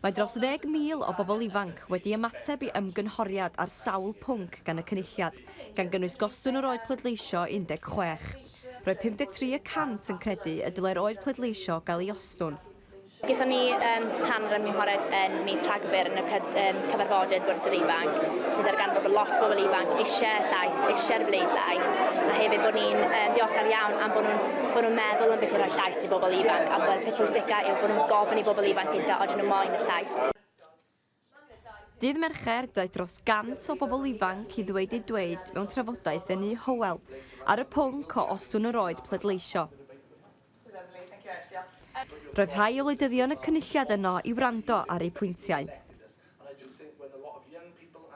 Mae dros ddeg mil o bobl ifanc wedi ymateb i ymgynghoriad ar sawl pwnc gan y Cynulliad, gan gynnwys gostwng yr oed pleidleisio i 16. Roedd 53 y cant yn credu y dylai'r oed pleidleisio gael ei ostwng. Gaethon ni rhan o'r ymgynghoriad yn mis Rhagfyr yn y cyfarfodydd Bwrdd Sir Ifanc, lle ddarganfod bod lot o bobl ifanc eisiau y llais, eisiau'r bleidlais, a hefyd bod ni'n ddiolchgar iawn am bod nhw'n meddwl am beth i roi llais i bobl ifanc a bod y peth pwysica yw bod nhw'n gofyn i bobl ifanc gynta odyn nhw moyn y llais. Dydd Mercher, daeth dros 100 o bobl ifanc i ddweud eu dweud mewn trafodaeth yn Nŷ Hywel ar y pwnc o ostwng yr oed pleidleisio. Roedd rhai o wleidyddion y Cynulliad yno i wrando ar eu pwyntiau.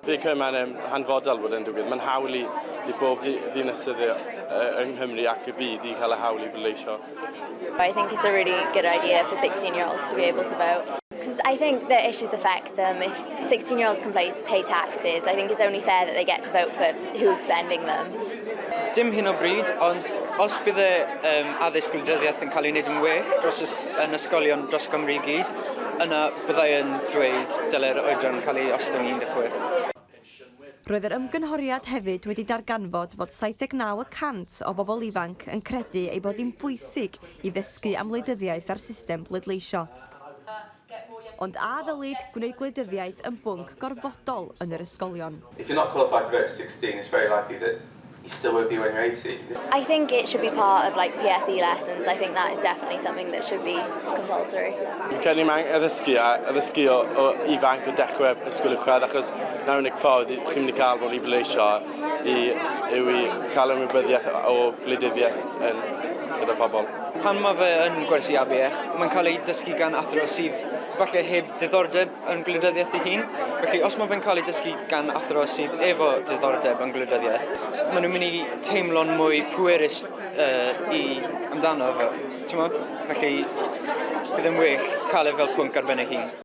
Fi'n credu mae'n um, hanfodol bod yn digwydd. Mae'n hawl i, i bob ddinesydd yng Nghymru ac y byd i cael y hawl i bleidleisio. I think it's a really good idea for 16-year-olds to be able to vote. Because I think the issues affect them. If 16 year olds can pay, pay taxes, I think it's only fair that they get to vote for who's spending them. Dim hyn o bryd, ond os bydd y um, addysg gwleidyddiaeth yn cael ei wneud yn well dros ys, yn ysgolion dros Gymru i gyd, yna Byddai yn dweud dylai'r oedran cael ei ostwng i 16. Roedd yr ymgynghoriad hefyd wedi darganfod fod 79 y cant o bobl ifanc yn credu ei bod hi'n bwysig i ddysgu am wleidyddiaeth a'r system bleidleisio. Ond a ddylid gwneud gwleidyddiaeth yn bwnc gorfodol yn yr ysgolion? If you're not qualified to vote at sixteen, it's very likely that I sylwedd yw enghraifft. I think it should be part of like PSE lessons. I think that is definitely something that should be compulsory. Fi'n credu mae angen addysgu a addysgu o, o ifanc o dechrau ysgol uwchradd achos na unig ffordd chi'n mynd i cael bod i bleisio i, yw i cael ymwybyddiaeth o gwleidyddiaeth yn, gyda pobl. Pan mae fe yn gwersi ABECH, mae'n cael ei dysgu gan athro sydd falle heb ddiddordeb yn gwleidyddiaeth ei hun. Felly os mae fe'n cael ei dysgu gan athro sydd efo diddordeb yn gwleidyddiaeth, maen nhw'n mynd i teimlo'n mwy pwerus uh, i amdano fo. Felly, bydd yn well cael e fel pwnc ar ben ei hun.